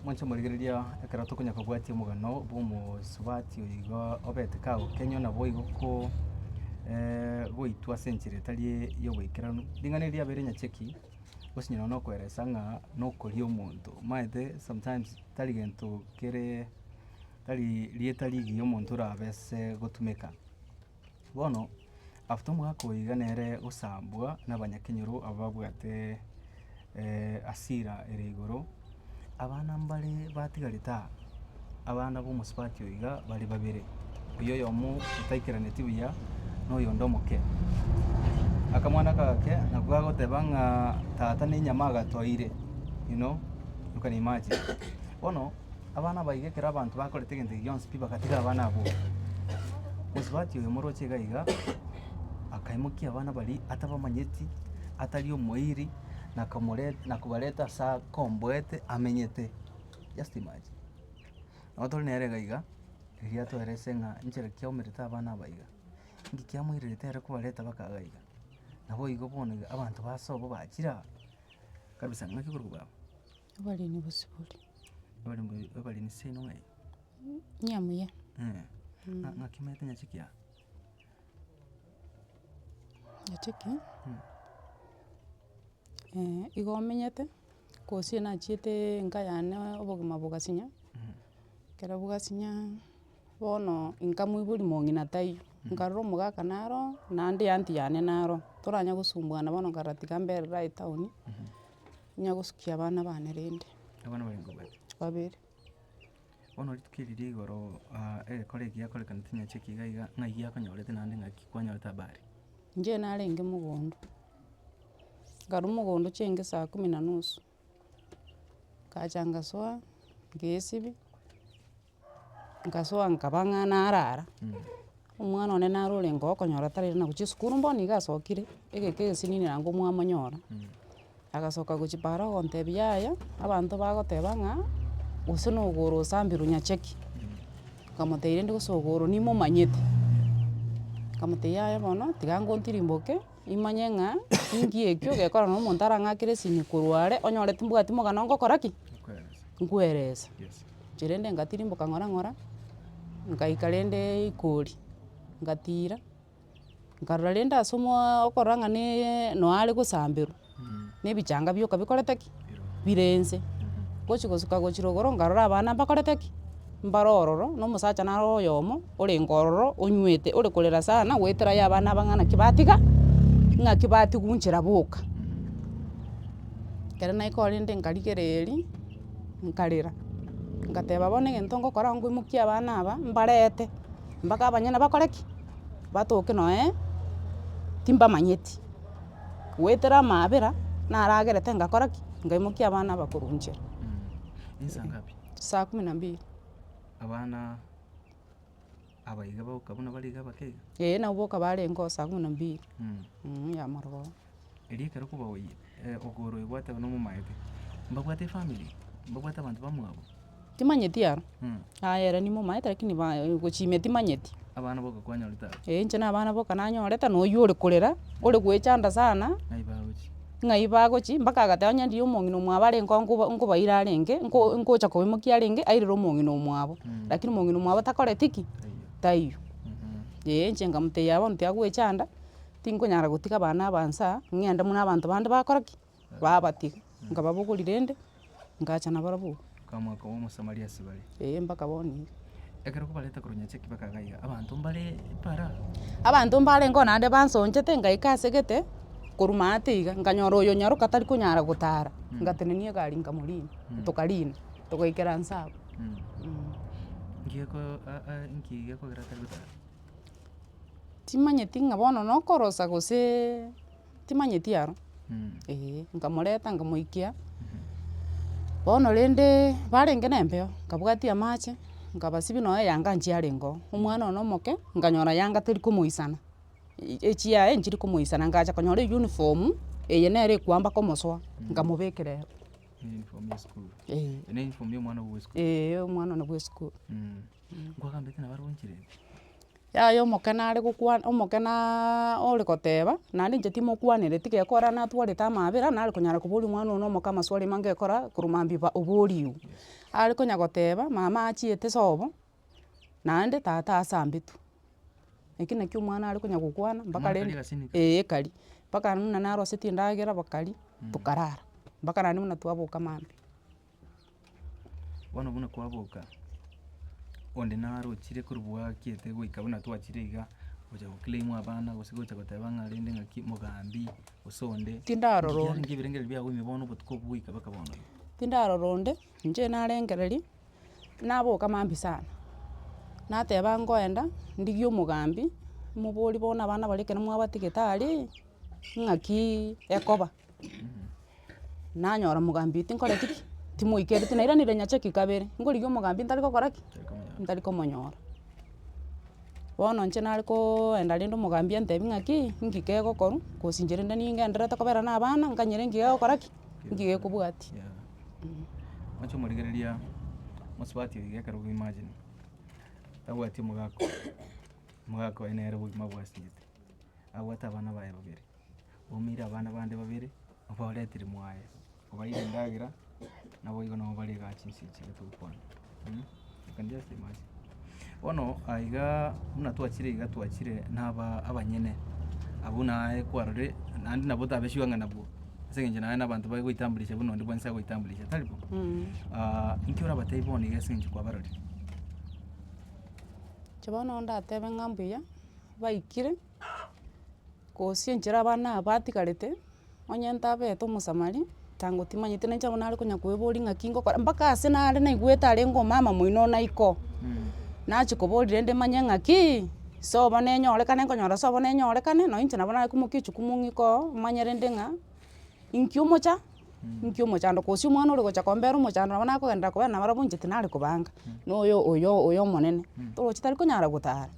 Mwanche morigereria ekero tokonya kobwatia omogano bwa omosubati oyo iga obete kagokenywa naboigo ko goitwa ase enchera etari ya oboikeranu. Ring'ana eri riabeire nyacheki gose onye nonya okoeresa ng'a nokoria omonto omanyete sometimes tari gento kere tari rieta rigiya omonto orabe ase gotumeka. Bono, after omwaka oyo iga nere gosambwa nabanyakenyoro aba babwate hasira ere igoro. Abana mbare batigarete aa, abana b'omosubati oyo iga bare babere, oyio oyomo otaikeraneti buya na oyonde omoke. Akamwana aka gake nako gagoteba ng'a tata nenyama agatoire, you know, you can imagine. Bono. Abana aba iga ekero abanto bakorete egento eke gionsi pi bagatiga abana abwo. Mosubati oyo omoroche iga iga, akaimokia abana baria atabamanyeti, atari omoiri, na akamoreta na kobareta ase akomboete amenyete. Just imagine. Nabo tore nere iga iga, eri riato ere ase ng'a nchera ki aumerete abana aba iga. Inki kiamoirerete ere kobareta baka iga iga. Nabo igo bono iga abanto basoa bo bachire aa kabisa ng'aki korwa baba. Abaremi bosibori. Abaremi- abaremi seino ng'ai? Ng'a muya. Ng'a- ng'aki maete nyache kiago? Nyache ki? igo omenyete, gose nachiete enka yane obogima bogasinya, ekero bogasinya, bono inka moibori mong'ina taiyo, nkarora omogaka naro, naende eanty yane naro, toranyare gosumbuana bono nkagera tiga mbere rai town, Ninya gosukia abana bane rende. Abana barenge babere. Babere. Bono rituko eri rigoro aa egekore eki giakorekanete inye nchiki iga iga ng'ai giakonyorete naende ng'aki kwanyorete habari. Inche narenge mogondo, nkarwa mogondo chiaenge saa kumi na nusu, ngacha ngasoa, ngesibia. Nkasoa nkaba ng'a narara, omwana one naro orenge okonyora tari na gochia esukuru bono nigo asokire, egeka egesinini naende komwamonyora, agasoka gochia para ogontebia yaya, abanto bagoteba ng'a gose na ogoro osambirwe nyacheki, nkamotebia rende gose ogoro nimomanyete, nkamotebia yaya bono tiga ngontirimboke, nimanye ng'a inki ekio gekora na omonto arang'akere esini korwa are, onyore timbwati mogano ngokora ki? Nkweresa. inche rende ngatirimboka ng'ora ng'ora, nkaika rende ikori, ngatira, nkarora rende ase omooo okorora ng'a na noe are gosamberwa, na ebichanga bioka bikorete ki? Bire inse, ngochia gosuka gochia rogoro nkarora abana mbakorete ki? Mbare ororo, na omosacha naro oyomo, orenge ororo onywete, ore korera sana, goetera aye abana aba ng'a naki batiga, ng'aki batigwa nchera boka. Ekero naika ororo rende nkarigereria. nkarera, ngateba bono egento ngokora nigo nkoimokia abana aba mbarete mpaka abanyene bakore ki? Batoke nonye timbamanyeti, goetera amaabera naro agerete ngakora ki? Ngaimokia abana aba korwa inche. Saa kumi na mbili. Abaiga bagoka buna bare iga abake iga? Ee, nabo boka barenge osaga buna mbiri mh, ya maroba oo. Erio ekero kobaoyia, eh, ogoro oyo gwateba nomomaete, mbabwate efamiri? Mbabwate abanto bamwabo? Timanyeti aro, Mh, aye ere nigo omaete lakini ba- e- gochimia timanyeti. abana boka kwanyorete aba? Ee, inche na abana boka nanyorete, na oyio ore korera, ore goechanda sana. Naibagochia. ng'ai bagochia, mpaka agateba onye ndiye omong'ina omwabo are nko- nko- nkobaira arenge, nko- nkocha kobaimokia arenge airire omong'ina omwabo, lakini omong'ina omwabo takoreti ki? Taiyo. Ee, inche nkamotebia bono tiagwechanda, tinkonyara gotiga abana aba nsaa, ng'ende buna abanto bande bakora ki? Babatiga, nkababogori rende. ngacha nabarabwo. Okamwa okoba Omosamaria ase bare. Ee, mpaka bono iga. Ekero kobareta korwa nyacheki mpaka iga iga, abanto mbare para. Abanto mbarengeo naende bansonchete, ngaika ase egete, korwa maate iga, nkanyora oyo nyaroka tari konyara gotara, ngatenenia egari nkamorina, tokarina, togaikera nse abwo. Timanyeti ng'a bono nokorosa goseee. timanyeti aro, eeh, nkamoreta nkamoikia, bono rende barenge na empeo, nkabwatia amache, nkabasibia nonye eyanga nchiarenge oo, omwana one omoke, nkanyora yanga teri komoisana, e- echiaye nchiri komoisana, ngacha konyora eyuniform, eye nere ekwamba komosoa, nkamobekera ero, eh. Eeh omwana one bwa esukuru. Yaya omokene are gokwana omokenaaa ore goteba, naende inche timokwanereti geko ore natwarete amabera nare konyara koboria omwana one omoke amaswali amange gekora korwa mabiba oboriwu. Are konya goteba, mama achiete sobo, naende tata ase ambetu. Eki nakio omwana are konya gokwana mpaka rende. Omwana akare gasinto. Eeh ekari. Mpaka buna narosetie endagera bakaria, tokarara. Mpaka naende buna twaboka mambia. Bono buna kwaboka, onde narochire korwa bwakiete goika buna twachire iga, gocha go claim abana gose gocha goteba ng'a rende ng'aki mogambi gose onde. Tindarora onde. Ebiya ebirengereri biago ime bono obotuko obwo goika mpaka bono. Tindarora onde, inche narengereria, naboka maambia sana, nateba ngoenda ndigie omogambi, moborie bono abana baria ekero mwabatigeete aria, ng'aki ekoba. nanyora omogambi oyo tinkoreti ki, timoikereti na eranera nyachaki kabere, nkorigia omogambi ntari gokora ki? Ntari komonyora. Bono inche nare koenda rende omogambi antebi ng'aki, inki kegokorwa, gose inche rende ningenderete kobera na abana, nkanyore enki gegokora ki? Enki gekobwatia. Oche omorigereria mosubati oiga ekero bwe imagine, tabwati omogaka oye, omogaka oye nere bwe obogima abwasete, abwate abana baye babere, Omoire abana bande babere, obaoretire moaye, obaeire endagera, naboigo nobarega chinse echi nigo togokwana. Mh, you can just imagine. Bono aiga buna twachire iga twachire na aba- abanyene, abwo naye kwarorire, naende nabo otabesiwa ng'a nabwo, ase eng'encho naye na abanto bagoitambulisha buna onde bwensi agoitambulisha, tari bo? Ah, inki orabatebi bono iga ase eng'encho kwabarorire? Inche bono ndatebe ng'a mbuya, baikire. Gose enchera abana aba batigarete, onye ntabete omosamali, tango timanyete nainche abwo nare konya koeboria ng'aki ngokora, mpaka ase nare naigwete arenge omama moino ona iko, nachi koboria rende manye ng'akii, sobo nenyorekane, nkonyora sobo nenyorekane, nonye inche nabo nare komokia echukumu ng'ikoo, omanye rende ng'a, Inki omocha, inki omochando, gose omwana ore gocha kombera omochando nabo nakogenderera kobana nabarabwo inche tinare kobanga, na oyo oyo oyo omonene, toroche tari konyara gotara,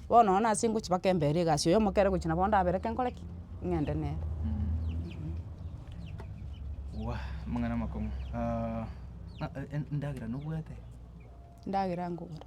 bono nonye nase ngochi mpaka embere egasi oyo omokere gochi nabo ndabereke nkore ki? Ng'ende nere. Endagera nkogora.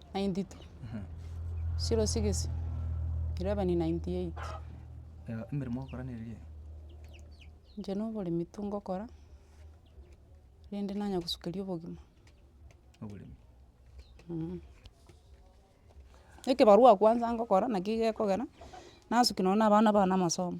ninety two, zero six, eleven ninety eight. Emeremo ogokora nere eye? Inche na oboremi tongokora, rende nanya gosukeria obogima. Oboremi. Ekebarua ya kwanza ngokora, naki gekogera, nasukia nonye na abana bane amasomo.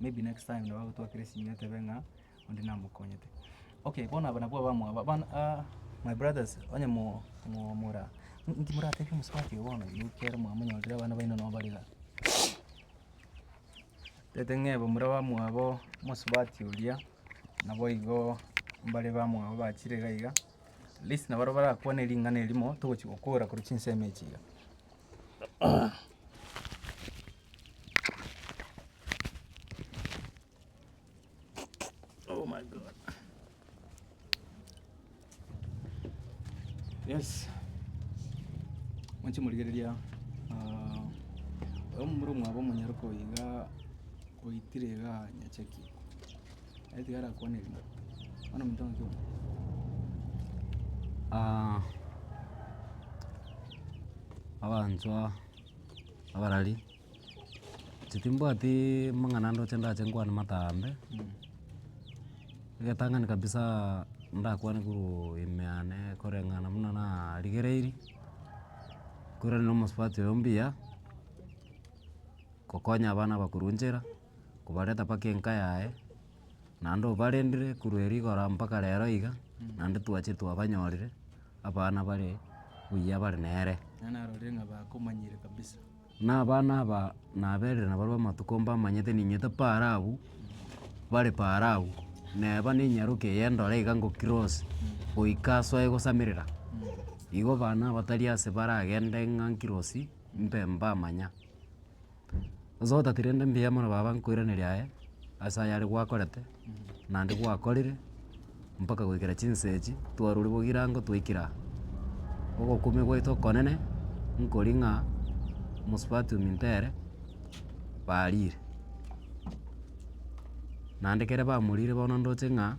maybe next time nabo bagotwakera esimi batebe ng'a onde namokonyete. Okay bono aba nabwo abamua aba bono aa my brothers onye mo- mo- mora inki moratebie omosubati oyo bono yu ekero mwamonyorire abana baino nabo bare igaa. Tete ng'ebe more abamwabo omosubati oria naboigo mbare bamwabo bachire iga iga at least nabarobwo barakwane ring'ana erimo togochi gokora korwa chinsemo echi iga. Oh my God. Yes. Mwanche morigereria ah, oyo momura omwabo omonyare koiga oitire iga nyacheki aitiga arakwana erimo bono omonto ng'ake omo Ah, abanchwa abarari, inche timbwatiiii amang'ana ndoche ndache nkwane matambe, egetang'ani kabisaaa ndakwane korwaa ime yane koreng'ana buna narigereiri, nkorane na omosubati oyo mbuya, gokonya abana bakorwa nchera, kobareta mpaka enka yaye. naende obarendire korwa erio igoro mpaka rero iga, naende twache twabanyorire abana bare buya bare nere. Na abana aba naberire nabarwa amatuko mbamanyete ninyete paaro abwo, bare paaro abwo, neba ne enyaroka eye ndore iga ngo cross, goika soe gosamerera, igo abana abatari ase baragende ng'a nkirosi, mbe mbamanya. Gose otatiga rende mbuya mono baba nkoiraneria aye, ase ayare gwakorete, naende gwakorire, mpaka goikera chinsa echi, twarure bogi erango twaikire aa. Ogokumia gwaito okonene, nkoria ng'a mosubati ominto ere, barire. Naende kere bamorire bono ndoche ng'a,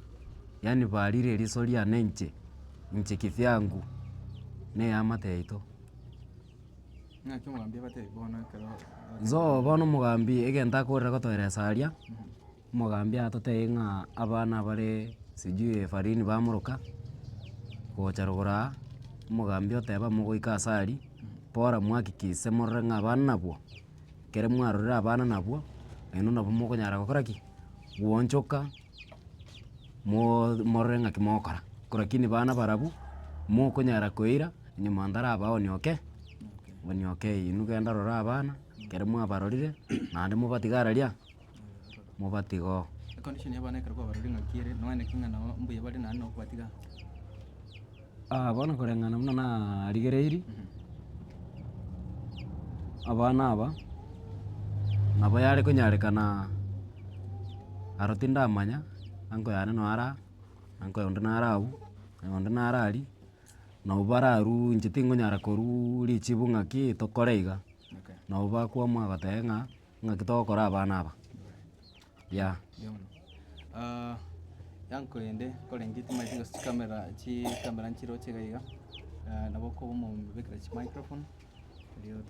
yaani barire riiso riane inche, inche kivyangu, na eamate yaito. Nsoa bono omogambi egento akorera gotoeresa aria, omogambi atotebie ng'a abana bare sijui efarini bamoroka gocha rogoro aa, omogambi oteba mogoika ase aria, bora mwakikise morore ng'a abana nabwo, ekero mwarorire abana nabwo, naende nabo mokonyara gokora ki? Gwochoka. moo morore ng'aki mogokora, ko rakini bana barabwo, mokonyara koira onye mwanto arabe onioke, onioke eyi inwe genda rora abana, ekero mwabarorire, naende mobatiga araria, mobatiga oo. Aa bono koreng'ana buna narigereiri, abana aba nabo yare konyarekana aro tindamanya, uncle yane noo ara aa, uncle onde nare agwo, oyo onde nare aria, nabo bararwuu inche tingonyara korwuu richibu ng'a ki tokore iga, nabo bakwama bagoteba ng'a ng'aki togokora abana aba. Yeah. Yono. Ah, yanko ende korenge timaeti gose chikamera chikamera nchiroche iga iga. Ah, nabo okoba omobekera chimicrophone erio to-